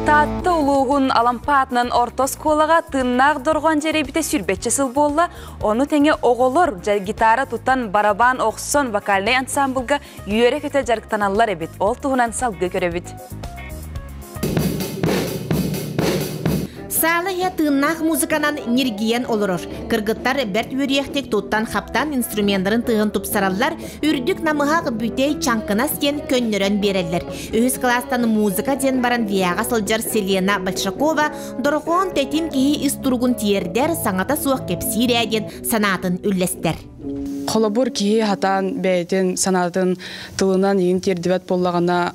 Таатта улуугун Алампа атынан орто оскуолаҕа тыыннаах дорҕоон дьэрэбитэ сүүрбэччэ сыл буолла. Ону тэҥэ оҕолор гитара тутан, барабан охсон, вокальнай ансаамбылга үөрэ-көтө дьарыктаналлар эбит. Ол туһунан салгыы көрөбүт. Саала иһэ тыыннаах музыканан ньиргийэн олорор. Кыргыттар бэрт үөрүйэхтик туттан хаптан инструментарын тыаһын тупсараллар, үрдүк намыһах бүтэй чаҥкынас диэн көннөрөн биэрэллэр. Үһүс кылаастан музыка диэн баран виаҕа сылдьар Селена Большакова дорохоон тэтим киһи ис туругун тиэрдэр, саҥата суох кэпсиир ээ диэн санаатын үллэстэр. Холобур, киһи хатаан бэйэтин санаатын тылынан иһин тиэрдибэт буоллаҕына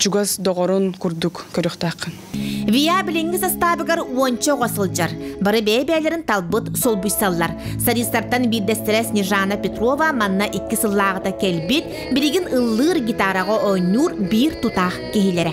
Чугас доҕорун курдук көрүөхтээххин. Вия билиҥҥи састаабыгар уонча оҕо сылдьар. Бары бэйэ-бэйэлэрин талбыт, солбуйсаллар. Солистартан биирдэстэрэ Снежана Петрова манна икки сыллааҕыта кэлбит, билигин ыллыыр, гитараҕа оонньуур биир тутаах киһилэрэ.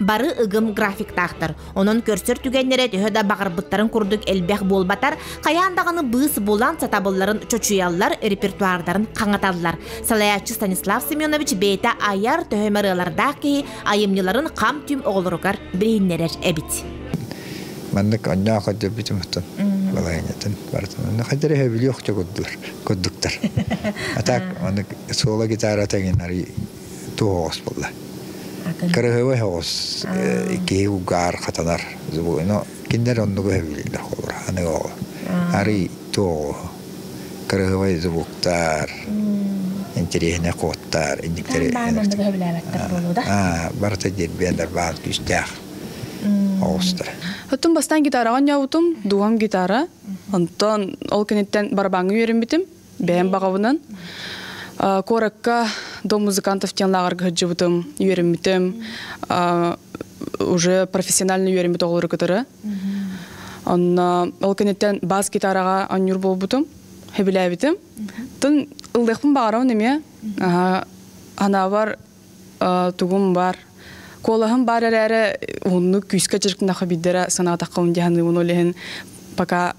Бары ыгым графиктаахтар. Онон көрсөр түгэннэрэ төһө да баҕарбыттарын курдук элбэх буолбатар, хайаан даҕаны быыс булан сатабылларын чочуйаллар, репертуардарын хаҥаталлар. Салайааччы Станислав Семенович бэйэтэ айар төһө ырыалардаах киһи айымньыларын хам-түм оҕолоругар билиннэрэр эбит. Маннык онньоох өтөрбүтүм оттон балаһыанньатын барытын онно хадьара өһөбүлүөх курдуктар. А так, ону соло гитара тегин арый Туоҕос буолла. Кырыһыбай оҕус киһи угаар хатанар. Но киндер оннугу хөвлүүллэр холур. Аны оҕо. Арый туоҕу. Кырыһыбай зубуктар. Интересне куоттар. Инниктери. Барыта дирбиэлер баан күүстээх. Оҕустар. Оттон бастан гитараҕа ньаутум, дуом гитара. Онтон ол күниттэн барабаҥҥа үөрэммитим. бэйэм баҕабынан куоракка дом музыкантов диэн лааҕырга сылдьыбытым үөрэммитим уже профессионально үөрэммит оҕолору кытары онно ол кэнниттэн бас гитараҕа оонньуур буолбутум сөбүлээбитим тын ылдыахпын баҕарабын эмиэ анаабар тугум бар куолаһым бар эрээри ууннук күүскэ дьирк нахы биддера санаатаххабын диханыыбын ол иһин пока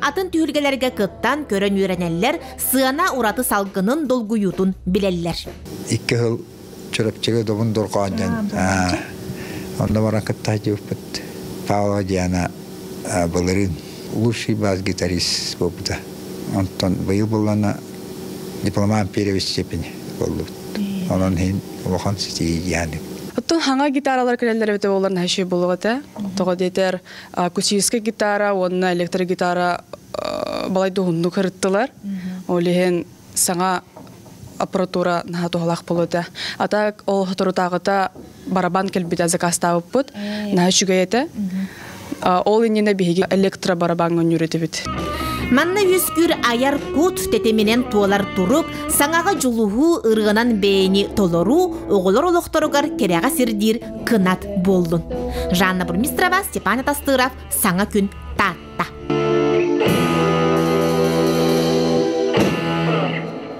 Атын түһүлгэлэргэ кыттан, көрөн үөрэнэллэр, сыана ураты салгынын, долгуйуутун билэллэр. Икки сыл Чурапчыга добун дорҕоонньон онно баран кытта дьыыппыт Павла Диана былырын лучший бас-гитарист буолбута. Онтон быйыл буллана дипломан перевес степени боллубут. Онон иһин улахан ситиһиилээх. Оттон хаҥа гитаралар кэлэллэр эбитэ боллар наһыщы булугата. Тоҕо диэтэр акустическая гитара уонна электрогитара балайда уһуннук ырыттылар ол иһин саҥа аппаратура наһаа туһалаах болута атак ол соторутааҕыта барабан кэлбитэ закастаабыппыт наһаа үчүгэй этэ ол иннинэ биһиги электро барабан өнньүрэтибит Манна үскүр айар кут тэтиминен туолар турук саңаға жулуху ырғынан бэйни толору оғолор олохторугар кереға сирдир кынат буоллун. Жанна Бурмистрова, Степан Атастыров, саҥа күн Таатта.